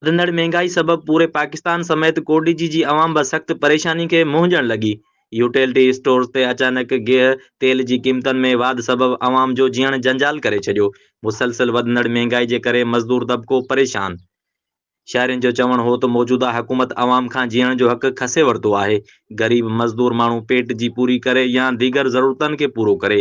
وڌندڙ مهنگائي سبب پوري پاڪستان سميت ڪوٽڏيجي جي عوام به سخت پريشاني کي منهن ڏيڻ لڳي. يوٽيلٽي اسٽورز تي اچانڪ گيهه تيل جي قيمتن ۾ واڌ سبب عوام جو جيئڻ جنجال ڪري ڇڏيو. مسلسل وڌندڙ مهنگائي جي ڪري مزدور طبقو پريشان. شهرين جو چوڻ هو ته موجوده حڪومت عوام کان جيئڻ جو حق کسي ورتو آهي. غريب مزدور ماڻهو پيٽ جي پوري ڪري يا ديگر ضرورتن کي پورو ڪري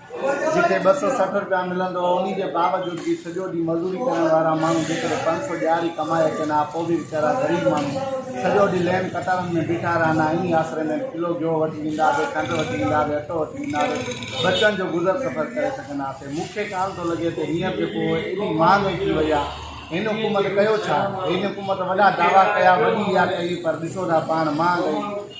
جنهن کي ٻه سؤ سٺ رپيا ملندو هو انهي جي باوجود به سڄو ڏينهن مزوري ڪرڻ وارا ماڻهو جيڪڏهن پنج سؤ ڏهاڙي ڪمائي اچن ها پوء به ويچارا غريب ماڻهو سڄو ڏينهن لين قطارن ۾ بيٺا رهن ها انهي آسري ۾ به ڪلو گيهو وٺي ويندا هئي کنڊ وٺي ويندا هئي اٽو وٺي ويندا هئي ٻچن جو گذر سفر ڪري سگهندا هئاسين مون کي ڪالهه ٿو لڳي ته هينئر جيڪو ايڏي مهانگائي ٿي وئي آهي هن حڪومت ڪيو ڇا هن حڪومت وڏا دعويٰ ڪيا وڏي اها ڪئي پر ڏسو ٿا پاڻ مهانگائي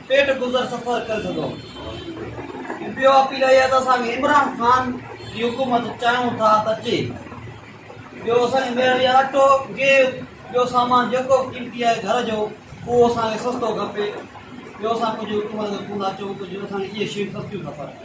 پيٽ گذر سفر ڪري سگهون ٿا ٻيو اپيل اهي ته اسان کي عمران خان جي حڪومت چاهيون ٿا ته اچي ٻيو اسان کي مهرباني اٽو گيهه ٻيو سامان جيڪو قيمتي آهي گهر جو اهو اسان کي سستو کپي ٻيو اسان ڪجهه حڪومت کي ڪونه اچو ڪجهه اسان کي اهي شيون سستيون کپن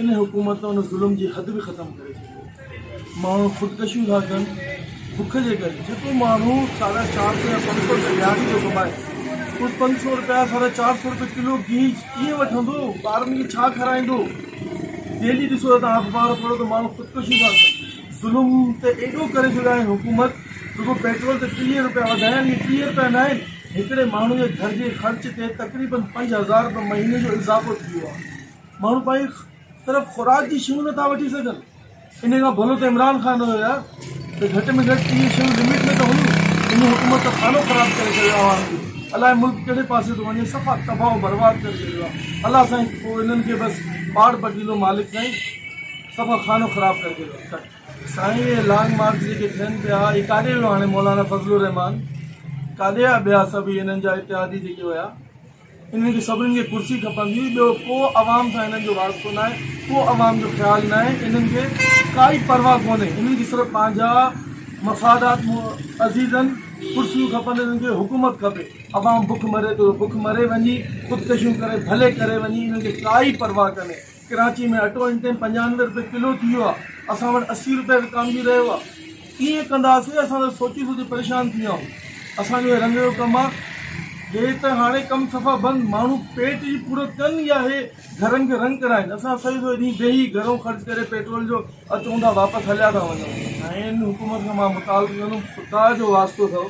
ان حڪومت ته ان ظلم جي حد به ختم ڪري ڇڏي آهي ماڻهو خودڪشيون ٿا ڪن بک جي ڪري جيڪو ماڻهو ساڍا چار سئو يا پنج سئو رپيا ڏهاڙي ٿو ڪمائي اهو پنج سئو رپيا ساڍا چار سئو رپيا ڪلو گيهه ڪيئن وٺندو ٻارن کي ڇا کارائيندو ڊيلي ڏسو ته تون اخبار پڙهو ته ماڻهو خودڪشيون ٿا ڪن ظلم ته ايڏو ڪري ڇڏيو آهي حڪومت رڳو پيٽرول تي ٽيهه رپيا وڌايا آهن اهي ٽيهه رپيا نه آهن هڪڙي ماڻهو جي گهر جي خرچ تي تقريبن پنج هزار رپيا مهيني جو اضافو ٿي ويو آهي ماڻهو پنهنجي طرف خوراڪ جي شيون نٿا وٺي سگهن انهي کان ڀلو ته عمران خان هيو يار ته گهٽ ۾ گهٽ اهي شيون لمٽ ۾ ته هيون هن حڪومت ته خانو خراب ڪري ڇڏيو آ عوام جو الائي ملڪ ڪهڙي پاسي ٿو وڃي صفا تباه و برباد ڪري ڇڏيو آ الله سائين پوء انهن کي بس پاڙ پٽيلو مالڪ سائين صفا خانو خراب ڪري ڇڏيو آ ڪٽ. سائين اهي لانگ مارچ جيڪي ٿين پيا اهي ڪاڏي ويو هاڻي مولانا فضل الرحمان ڪاڏي ويا ٻيا سڀ اهي انهن جا اتحادي جيڪي ويا. انهن کي سڀنن کي ڪرسي کپندي ٻيو ڪو عوام سان انهن جو واسطو ناهي ڪو عوام جو خيال ناهي انهن کي ڪائي پرواهه ڪونهي انهن کي صرف پنهنجا مفادات عزيزن ڪرسيون کپن انهن کي حڪومت کپي عوام بک مري ٿو بک مري وڃي خودڪشيون ڪري ڀلي ڪري وڃي انهن کي ڪائي پرواهه ڪونهي ڪراچي ۾ اٽو هن ٽيم پنجانوي روپيه ڪلو ٿي ويو آهي اسان وٽ اسي روپيه وڪامجي رهيو آهي ڪيئن ڪنداسي اسان ته سوچي سوچي پريشان ٿي ويا آهيون اسان جو هي رنگ جو ڪم آهي هي ته هاڻي ڪم صفا بند ماڻهو پيٽ جي پورت ڪن يا هي گهرن کي رنگ ڪرائين اسان سڄو سڄو ڏينهن ويهي گهرو خرچ ڪري پيٽرول جو اچون ٿا واپس هليا ٿا وڃون هن حڪومت کان مان مطالبو ڪندم خدا جو واسطو اٿئو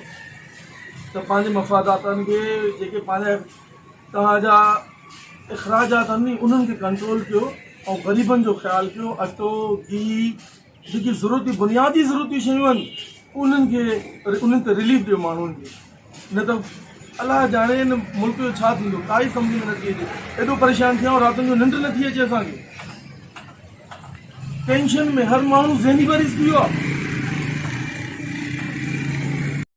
ته پنهنجي مفاداتن کي جيڪي پنهنجا توهان جا اخراجات آهن ني انهن کي ڪنٽرول ڪيو ۽ غريبن جو خيال ڪيو اٽو گيهه جيڪي ضرورتي بنيادي ضرورتي شيون آهن انهن کي انهن تي رليف ڏيو ماڻهن کي نه ته الاهي ڄاڻي هن ملڪ جو ڇا ٿيندو ڪائي سمجھ ۾ نٿي اچي ايڏو پريشان ٿيا آهيون راتن جو ننڊ نٿي اچي اسان کي ٽينشن ۾ هر ماڻهو ذهني مريض ٿي ويو آهي